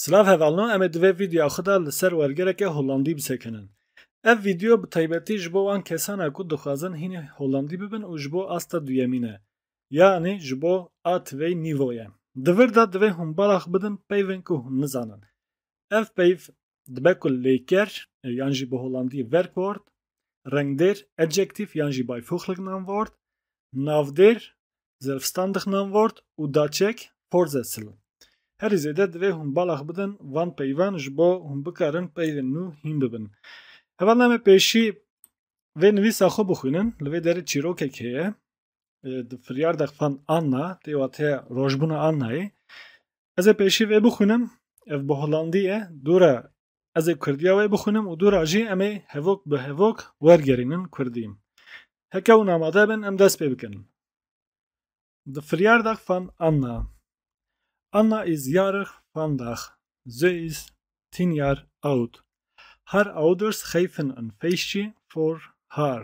Silav hevalno em ê di vê vîdeoya xwe de li ser wergereke Hollandî bisekinin. Ev vîdeo bi taybetî ji bo wan kesan e ku dixwazin hînî Hollandî bibin û ji bo asta duyemîn e. Yanî ji bo a tivey nîvo ye. Di vir de divê hûn balax bidin peyvên ku hûn nizanin. Ev peyv dibe ku lêker yan jî bi holandî verkort, rengdêr adjektif yan jî beivoeglijk namwort, navdêr zelfstandig namwort û daçek Vorsätzel. Herî zêde divê hûn bala xwe bidin van peyvan ji bo hûn bikarin peyvên nû hîn bibin. Hevalname pêşî vê nivîsa xwe bixwînin, li vê derê çîrokek heye. di firyar de xan Anna tê wate rojbûna Annayê ez ê pêşî vê bixwînim ev bi Holandî ye dûre ez ê Kurdiya wê bixwînim û dûra jî em ê hevok bi hevok wergerînin Kurdî heke hûn amade bin em dest pê bikin di firyar de xan Anna Anna is yarix fandax Zeus Tinyar Out Har Auders Xeyfin an Feisçi for Har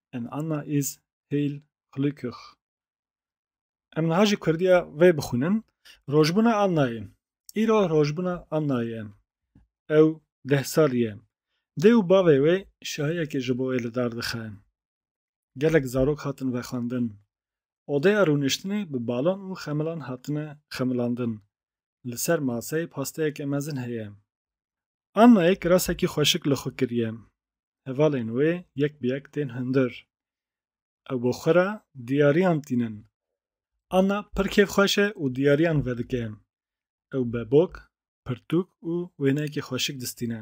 En Anna is heil glückig. Em niha ji Kurdiya vê bixwînin. Rojbûna Annayê. Îro rojbûna Annayê. Ew deh sal ye. Dê û bavê wê şahiyekê ji bo wê li dar dixe. Gelek zarok hatin vexwendin. Odeya rûniştinê bi balon û xemilan hatine xemilandin. Li ser maseyê pasteyeke mezin heye. Annayê kirasekî xweşik li xwe kiriye. Hevalên wê yek bi yek tên hundir. Ew bo xwe re diyariyan tînin. Anna pir kêfxweş e û diyariyan vedike. Ew bebok, pirtûk û wêneyekî xweşik distîne.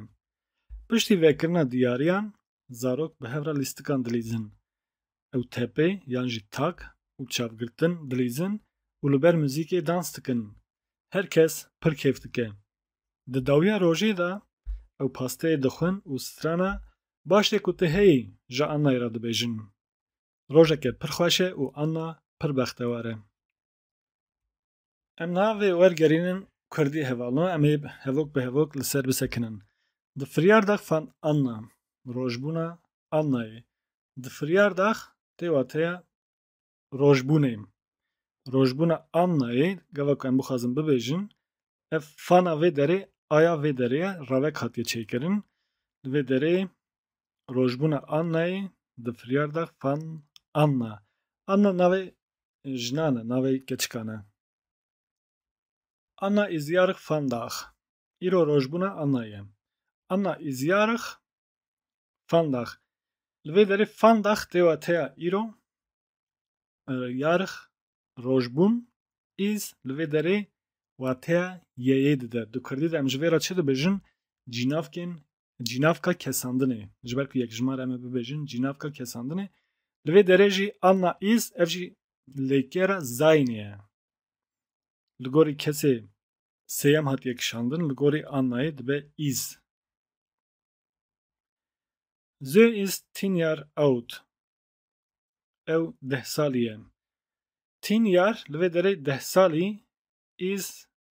Piştî vekirina diyariyan zarok bi hev re lîstikan dilîzin. Ew tepê yan jî tak û çavgirtin dilîzin û li ber muzîkê dans dikin. Her kes pir kêf dike. Di dawiya rojê de ew pasteyê dixwin û strana Baş e ku tu heyî ji Annayê re dibêjin. Rojeke pir xweş e û Anna pir bextewar e. Em niha vê wergerînin Kurdî hevalno em ê hevok bi hevok li ser bisekinin. Di firyardax fan anna, rojbûna annayê. Di firyardax tê wateya rojbûnê. Rojbûna annayê gava ku em bixwazin bibêjin ev fana vê derê aya vê derê ye ravek hatiye çêkirin. Li vê derê rojbûna annayê di firyardax fan anna. Anna navê jinan e, navê keçikan e. Anna Izyarık van Daag Îro rojbûna Anna ye. Anna Izyarık van Daag Li vê derê van Daag tê wateya îro, yarık rojbûn, iz li vê derê wateya yeyê dide. Di kurdî de em ji vê re çi dibêjin? Cînavkên cînavka kesandinê ji ber ku yekjimar em ê bibêjin cînavka kesandinê li vê derê jî anna îz ev jî lêkera zaynê ye li gorî kesê sêyem hatiye kişandin li gorî annayê dibe îz Zö îz tînyar ewt ew deh salî ye tînyar li vê derê deh salî îz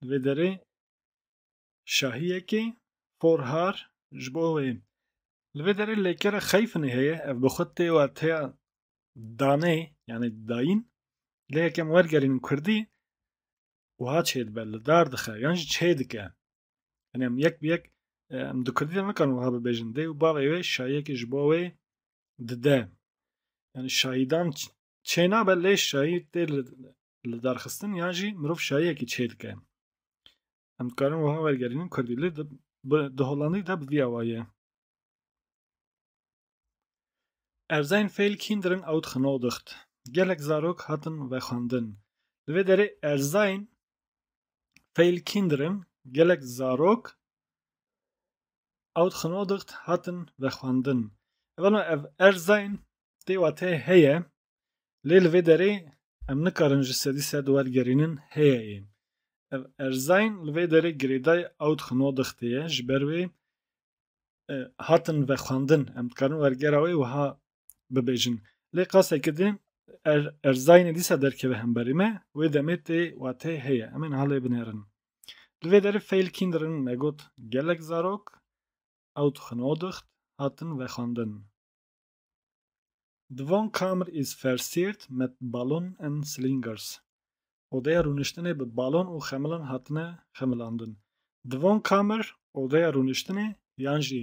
Di vê derê şahiyekê porhar ji bo wê li vê derê lêkere xeyfinê heye ev bi xwe tê wateya danê yanê dayîn lê yekem wergerînin kurdî wiha çê dibe li dar dixe yan jî çê dike yani em yek bi yek em di kurdî de nikarin wiha bibêjin dê û bavê wê şahiyekê ji bo wê dide yani şahîdan çênabe lê şayî tê li derxistin yan jî mirov şayiyekî çê dike. Em dikarin wiha wergerînin Kurdî lê di Holandî de bi vî awa ye. Er sein Fehl Kinderen outgenodigt. Gelek zarok hatin vexwendin. Li vê derê er sein Fehl Kinderen gelek zarok ew xinodixt hatin vexwendin. Evano ev erzayên tê watê heye lê li vê derê em nikarin ji sedî sed wergerînin heye ê. Ev erzayên li vê derê girêday ew xinodixtê ye ji ber wê hatin vexwendin. Em dikarin wergera wê wiha bibêjin. Lê qasekê din er erzayînê dîsa derkeve hemberî me, wê demê tê wateyê heye, em ê niha lê binerin. Li vê derê feyl kîndirin me got gelek zarok ew dixwin o dixt hatin vexwendin. The Von Kammer is versiert mit Ballon en Slingers. Odeya rûniştinê bi balon û xemilan hatine xemilandin. The Von Kammer, odeya rûniştinê yan jî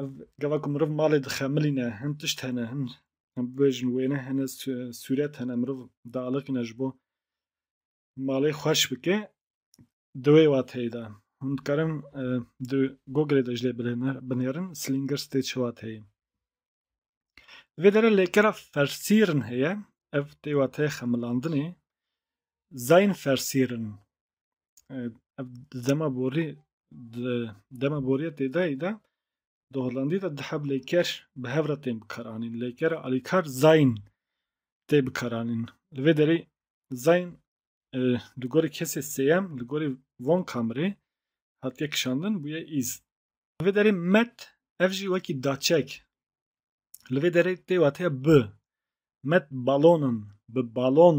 Ev gava ku miriv malê dixemilîne hin tişt hene hin bibêjin wêne hene sûret hene miriv dialiqîne ji bo malê xweş bike di wê wateyê de hûn dikarin e, di Googleê de ji lê binêrin Slinger stê çi wateyê. Vê dere lêkera fersîrin heye ev tê wateyê xemilandinê Zayn fersîrin ev dema borî dema borî ya têdayî de di Hollandî de di hev lêker bi hev re tên bikaranîn lêkera alîkar zayîn tê bikaranîn li vê derê zayîn li gorî kesê sêyem li gorî von kamrê hatiye kişandin bûye îz li vê derê met ev jî wekî daçek li vê derê tê wateya bi met balonan bi balon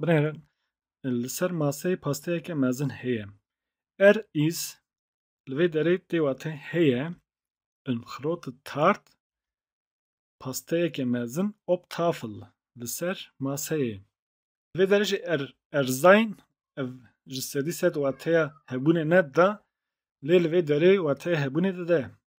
Binêre li ser maseyê pasteyeke mezin heye. Er îz li vê derê tê wate heye in xiroti tart pasteyeke mezin op tafel li ser maseyê. Li vê derê jî er erzayn ev ji sedî sed wateya hebûnê ne dida lê li vê derê wateya hebûnê dide.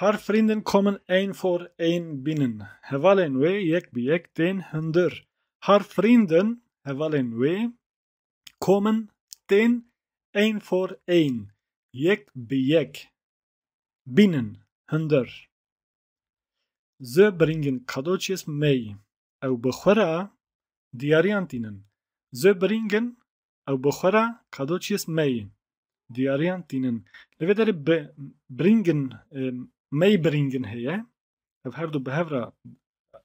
Her frîndin kommen ein for ein bînin. Hevalên wê yek bi yek tên hundir. Her frîndin hevalên wê kommen tên ein for ein yek bi yek bînin hundir. Ze bringin Kadoçyes mey. ew bi xwe re diyariyan tînin. Zö birîng in, ew bi xwe re kado çiyês meyê diyariyan tînin. Li vê derê bi birîng in, meyê birîng in heye. Ev her du bi hev re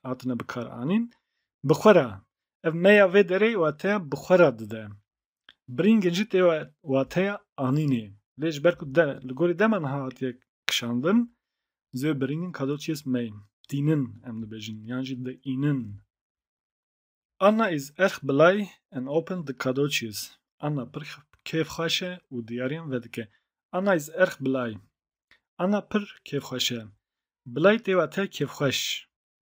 hatine bikaranîn. Bi xwe re, ev meya vê derê wateya bi xwe re dide. Birîngên jî tê wateya anînê. Lê ji ber ku de li gorî dema niha hatiye kişandin, zê birîngên kadoçiyês meyên. Tînin em dibêjin yan jî diînin. Anna is erg blay and open di kadoçiyês. Anna pir kêfxweş e û diyariyan vedike. Anna is erg blay. Anna pir kêfxweş e. Blay tê wateya kêfxweş.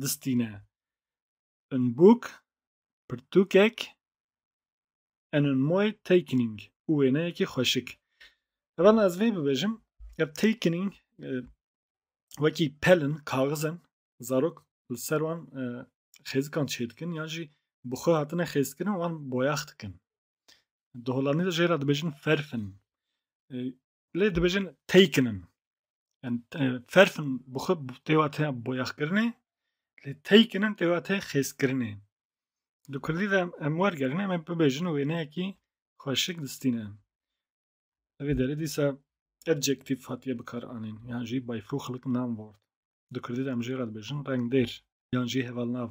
distîne. Unbook, pirtûkek, an unmoe takening û wêneyekî xweşik. Heval ez vê bibêjim, ev takening wekî pelin, kaxizin zarok li ser wan xêzikan çêdikin yan jî bi xwe hatine xêzkirin wan boyax dikin. Di Holandî de jê re dibêjin ferfin. Lê dibêjin taken in. Yani ferfin bi xwe têwa te boyaxkirinê lê taken in têwa te xêzkirinê. Di Kurdî de em wergerin em ê bibêjin û wêneyekî xweşik distîne. Evê derê dîsa adjektif hatiye bikar anîn yan jî by fuxlik nam word. Di Kurdî de em jê re dibêjin rengdêr yan jî hevalnav.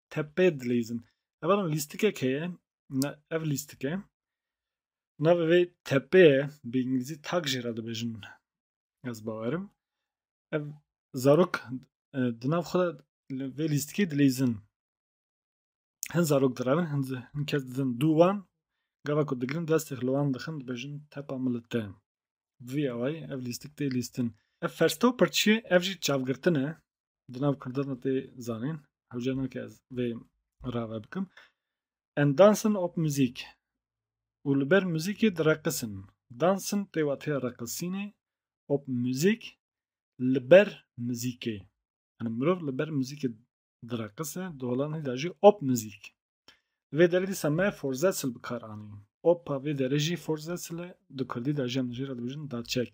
tepê dileyzin. Ev lîstikek heye, ev lîstike. Navê vê tepeye bi îngilîzî tak jê re dibêjin ez bawerim. Ev zarok di nav xwe de vê lîstikê dileyzin. Hin zarok direvin, hin kes didin dû wan, gava ku digirin destê li wan dixin dibêjin tepa min li te. Vî awayî ev lîstik tê lîstin. Ev fersta û pirçiyê ev jî çavgirtin e. di nav kurdan tê zanîn hewce nake ez vê rave bikim en dansin op muzîk û li ber muzîkê direqisin dansin tê watê reqisînê op muzîk li ber muzîkê yani mirov li ber muzîkê direqise di holanî de jî op muzîk li vê derê dîsa me forzetsil bi kar anî opa vê derê jî forzetsil e di kurdî de jî em jê re dibêjin daçek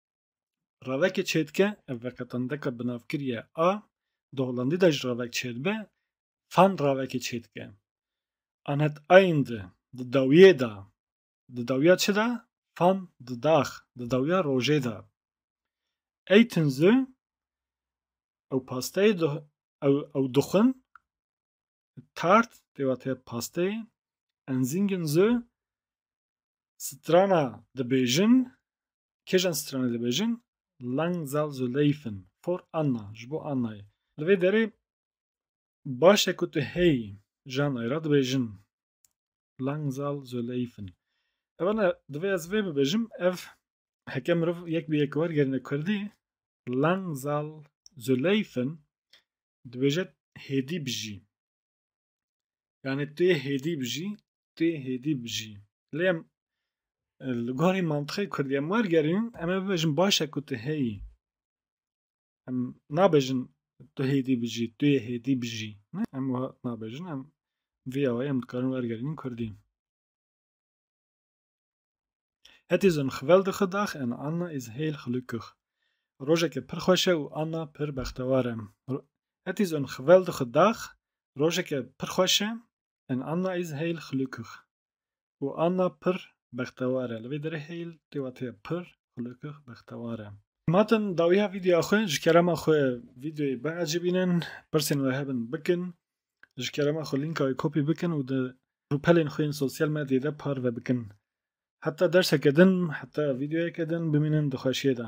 Ravekê çêdike ev veqetandeka binavkir ye a di Holandî de jî ravek çêdibe fan ravekê çêdike. Anet ayn di di dawiyê da di dawiya çi da fan di dax di dawiya rojê da. Ey tinzu ew pasteyê ew ew dixwin tart pêwateye pasteyê enzîngin zu Strana dibêjin kêjan stranê dibêjin Langzal Zuleyfin for Anna ji bo Annayê. Li vê derê baş e ku tu hey jan ayra dibêjin Langzal Zuleyfin. Evana divê ez vê bibêjim ev heke mirov yek bi yek wergerine Kurdî Langzal Zuleyfin dibêje hêdî bijî. Yani tê hêdî bijî, tê hêdî bijî. Lê em li gorî mantiqê Kurdî em wergerîn, em ê bibêjin baş e ku tu heyî. Em nabêjin tu hêdî bijî, tu yê hêdî bijî. Ne em wiha nabêjin, em vê awayî em dikarin wergerînin Kurdî. Het is een geweldige dag en Anna is heel gelukkig. Rojeke pir xweş e û Anna pir bextewar e. Het is een geweldige dag. Rojeke pir xweş e en Anna is heel gelukkig. û Anna pir bextewar e. Li vê derê heel tê wat heye pir gelukkig bextewar e. Matin dawiya vîdeoya xwe ji kerema xwe vîdeoyê biecibînin, pirsên we hebin bikin Ji kerema xwe lînkayê kopî bikin û di rûpelên xwe yên sosyal medyayê de parve bikin. Heta derseke din, heta vîdeoyeke din bimînin di xweşiyê de.